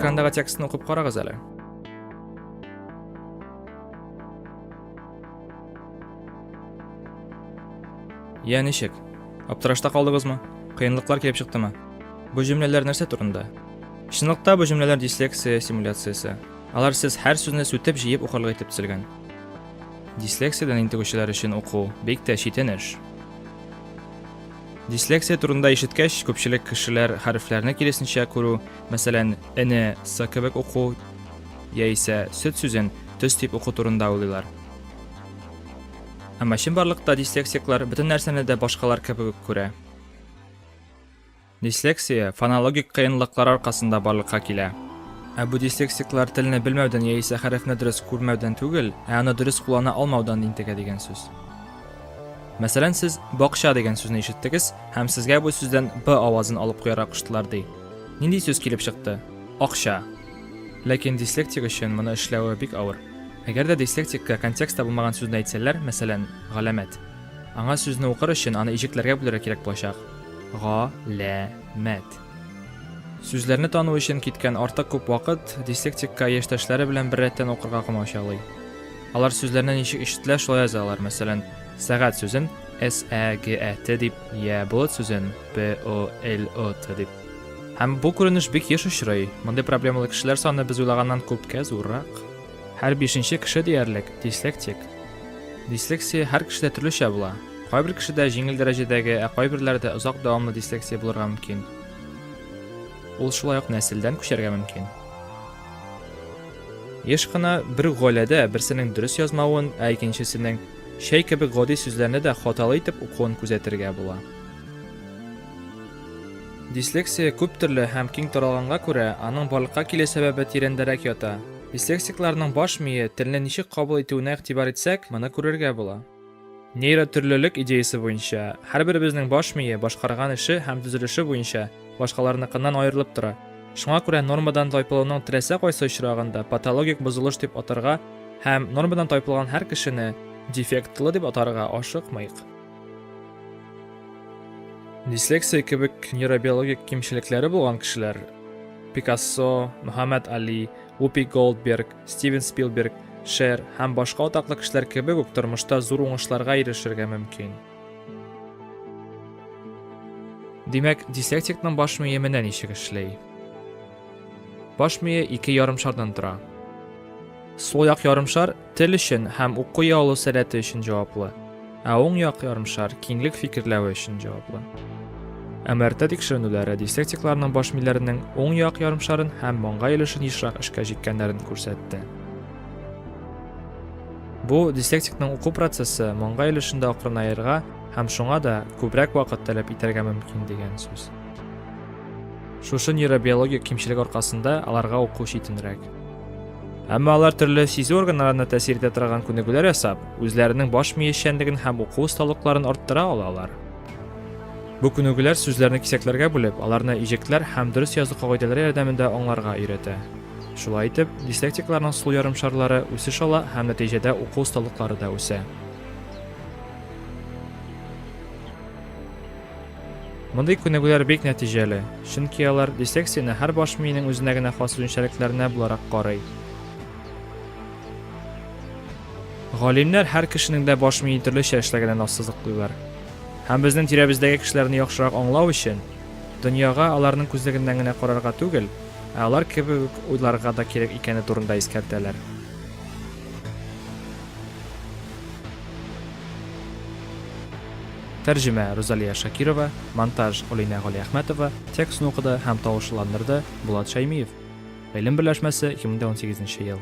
Экрандагы текстны укып карагыз әле. Я ничек? Аптырашта калдыгызмы? Кыенлыклар килеп чыктымы? Бу җөмләләр нәрсә турында? Чынлыкта бу җөмләләр дислексия симуляциясе. Алар сез һәр сүзне сүтеп җыеп укырлык итеп төзелгән. Дислексиядән интегүчеләр өчен уку бик тә читен эш. Дислексия турында ишеткәч, күпчелек кешеләр хәрефләрне киресенчә күрү, мәсәлән, эне сы кебек уку, яисә сөт сүзен төс дип уку турында уйлыйлар. Әмма чынбарлыкта дислексиклар бөтен нәрсәне дә башкалар кебек күрә. Дислексия фонологик кыенлыклар аркасында барлыкка килә. Ә бу дислексиклар телне белмәүдән яисә хәрефне дөрес күрмәүдән түгел, ә аны дөрес куллана алмаудан интегә дигән сүз. Мәсәлән, сез бакча дигән сүзне ишеттегез һәм сезгә бу сүздән б авазын алып куярга куштылар ди. Нинди сүз килеп чыкты? Акча. Ләкин дислектик өчен моны эшләве бик авыр. Әгәр дә дислектикка контекстта булмаган сүзне әйтсәләр, мәсәлән, галәмәт, аңа сүзне укыр өчен аны иҗекләргә бүләргә кирәк булачак. Га лә мәт. Сүзләрне тану өчен киткән артык күп вакыт дислектикка яшьтәшләре белән беррәттән укырга комачаулый. Алар сүзләрне ничек ишетелә, шулай язалар. Мәсәлән, сәгать сүзен S-A-G-A-T дип, я болыт сүзен P-O-L-O-T дип. Һәм бу күренеш бик еш очрый. Мондый проблемалы кешеләр саны без уйлаганнан күпкә зуррак. Һәр бишенче кеше диярлек дислектик. Дислексия һәр кешедә төрлечә була. Кайбер кешедә җиңел дәрәҗәдәге, ә кайберләрдә озак дәвамлы дислексия булырга мөмкин. Ул шулай ук нәселдән күчәргә мөмкин. Еш кына бер гаиләдә берсенең дөрес язмавын, ә икенчесенең чәй кебек гади сүзләрне дә хаталы итеп укуын күзәтергә була. Дислексия күп төрле һәм киң таралганга күрә, аның барлыкка килү сәбәбе тирәндәрәк ята. Дислексикларның баш мие телне ничек кабул итүенә игътибар итсәк, моны күрергә була. Нейротөрлелек идеясе буенча, һәрберебезнең баш мие башкарган эше һәм төзелеше буенча башкаларныкыннан аерылып тора. Шуңа күрә нормадан тайпылуның теләсә кайсы очрагын да патологик бозылыш дип атарга һәм нормадан тайпылган һәр кешене дефектлы дип атарга ашыкмыйк. Дислексия кебек нейробиологик кимчелекләре булган кешеләр Пикассо, Мухаммед Али, Упи Голдберг, Стивен Спилберг, Шер һәм башка атаклы кешеләр кебек үк тормышта зур уңышларга ирешергә мөмкин. Димәк, дислексикның баш мие менә ничек эшли. Баш мие ике ярымшардан тора. Сул як ярымшар Тел өчен һәм уку ялу сәләте өчен җаваплы, ә уң як ярымшар киңлек фикерләве өчен җаваплы. МРТ тикшеренүләре дислектикларның баш миләренең уң як ярымшарын һәм маңгай өлешен ешрак эшкә җиккәннәрен күрсәтте. Бу дислектикның уку процессы маңгай өлешендә акрынаерга һәм шуңа да күбрәк вакыт таләп итәргә мөмкин дигән сүз. Шушы нейробиологик кимчелек аркасында аларга уку читенрәк. Әмма алар төрле сизү органнарына тәэсир итә торган күнегүләр ясап, үзләренең баш мие эшчәнлеген һәм уку осталыкларын арттыра алалар. Бу күнегүләр сүзләрне кисәкләргә бүлеп, аларны иҗекләр һәм дөрес язу кагыйдәләре ярдәмендә аңларга өйрәтә. Шулай итеп, дислектикларның сул ярым шарлары үсеш ала һәм нәтиҗәдә уку осталыклары да үсә. Мондый күнегүләр бик нәтиҗәле, чөнки алар дисекцияне һәр баш миенең үзенә генә хас үзенчәлекләренә буларак карый. Галимнәр һәр кешенең дә баш мие төрлечә эшләгәнен ассызыклыйлар. Һәм безнең тирәбездәге кешеләрне яхшырак аңлау өчен, дөньяга аларның күзлегеннән генә карарга түгел, ә алар кебек үк уйларга да кирәк икәне турында искәртәләр. Тәрҗемә, Рузалия Шакирова, монтаж, Олинә Галиәхмәтова, текстны укыды һәм тавышлыландырды, Булат Шәймиев. Гыйлем берләшмәсе, 2018 ел.